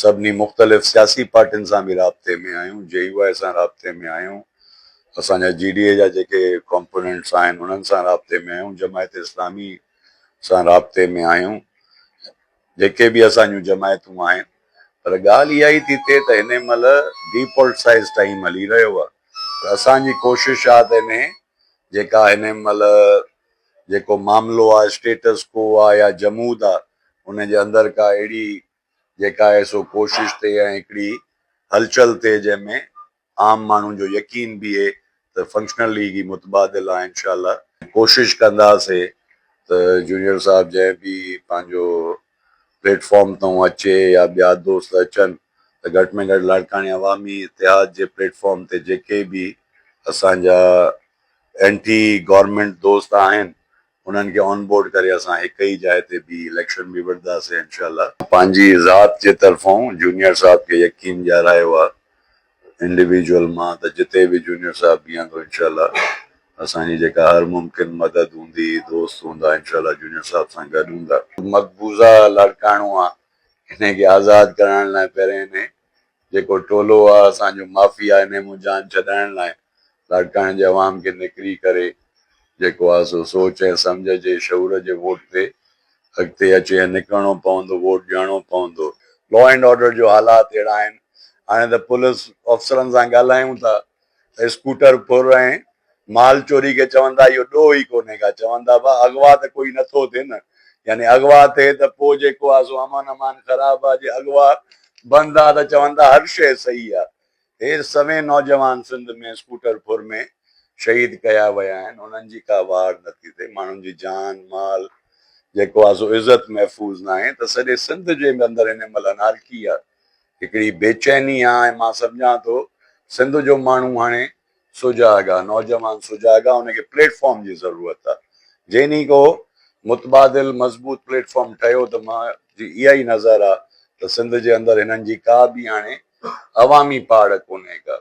سڀني مختلف سياسي پارٽين سان به رابطي ۾ آهيون، جي يو آء سان رابطي ۾ آهيون، اسان جا جي ڊي اي جا جيڪي ڪامپوننٽس آهن انهن سان رابطي ۾ آهيون، جماعت اسلامي سان رابطي ۾ آهيون، جيڪي به اسان جون جماعتون آهن پر ڳالهه اها ئي ٿي ٿئي ته هن مهل ڊي پولٽسائيز ٽائيم هلي رهيو آهي ته اسان جي ڪوشش آهي ته انهي جيڪا هن مهل جيڪو معاملو آهي اسٽيٽس ڪو آهي يا جمود آهي ان جي اندر ڪا اهڙي جيڪا آهي سو ڪوشش تي ۽ هڪڙي هلچل تي جنهن ۾ عام ماڻهن جو يقين بيهي ته فنڪشنل ليگ ئي متبادل آهي انشاء الله ڪوشش ڪنداسي ته جونيئر صاحب جنهن به پنهنجو پليٽ فارم تون اچي يا ٻيا دوست اچن ته گهٽ ۾ گهٽ لاڙڪاڻي عوامي اتحاد جي پليٽ فارم تي جيڪي به اسان جا اينٽي گورنمينٽ دوست آهن انهن کي آن بورڊ ڪري اسان هڪ ئي جاء تي بيهي اليڪشن به وڙهنداسين انشاء الله. پنهنجي ذات جي طرفون جونيئر صاحب کي يقين ڏيارايو آ انڊيويجول مان ته جتي به جونيئر صاحب بيهندو انشاء الله اسان جي جيڪا هر ممڪن مدد هوندي دوست هوندا انشاء الله جونيئر صاحب سان گڏ هوندا. مقبوضه لاڙڪاڻو آ انهي کي آزاد ڪرائڻ لاء پهرين انهي. جيڪو ٽولو آ اسان جو معافي آ انهي مون جان ڇڏائڻ لاء لاڙڪاڻي جي عوام کي نڪري ڪري جيڪو آ سو سوچ ۽ سمجهه جي شعور جي ووٽ تي اڳتي اچي ۽ نڪرڻو پوندو ووٽ ڏيڻو پوندو. لا اينڊ آرڊر جو حالات اهڙا آهن هاڻي ته پولس آفسرن سان ڳالهايون ٿا. اسڪوٽر ڦر ۽ مال چوري کي چوندا اهو ڏوهه ئي ڪونهي ڪا چوندا به اغوا ته ڪوئي نٿو ٿئي نه يعني اغوا ٿئي ته پوء جيڪو آ سو امن امان خراب آ جي اغوا بند آ ته چوندا هر شيء صحيح آ هير سوين نوجوان سنڌ ۾ اسڪوٽر ڦر ۾ شهيد ڪيا ويا آهن انهن جي ڪا واڙ نٿي ٿئي ماڻهن جي جان مال جيڪو آ سو عزت محفوظ ناهي ته سڄي سنڌ جي اندر هن مهل انارڪي آ هڪڙي بي چيني آ ۽ مان سمجهان ٿو سنڌ جو ماڻهو هاڻي سجاڳ آ نوجوان سجاڳ آ ان کي پليٽ فارم جي ضرورت آ جئين ئي ڪو متبادل مضبوط پليٽ فارم ٺهيو ته مان جي اها ئي نظر آ ته سنڌ جي اندر هنن جي ڪا به هاڻي عوامي پاڙ ڪونهي ڪا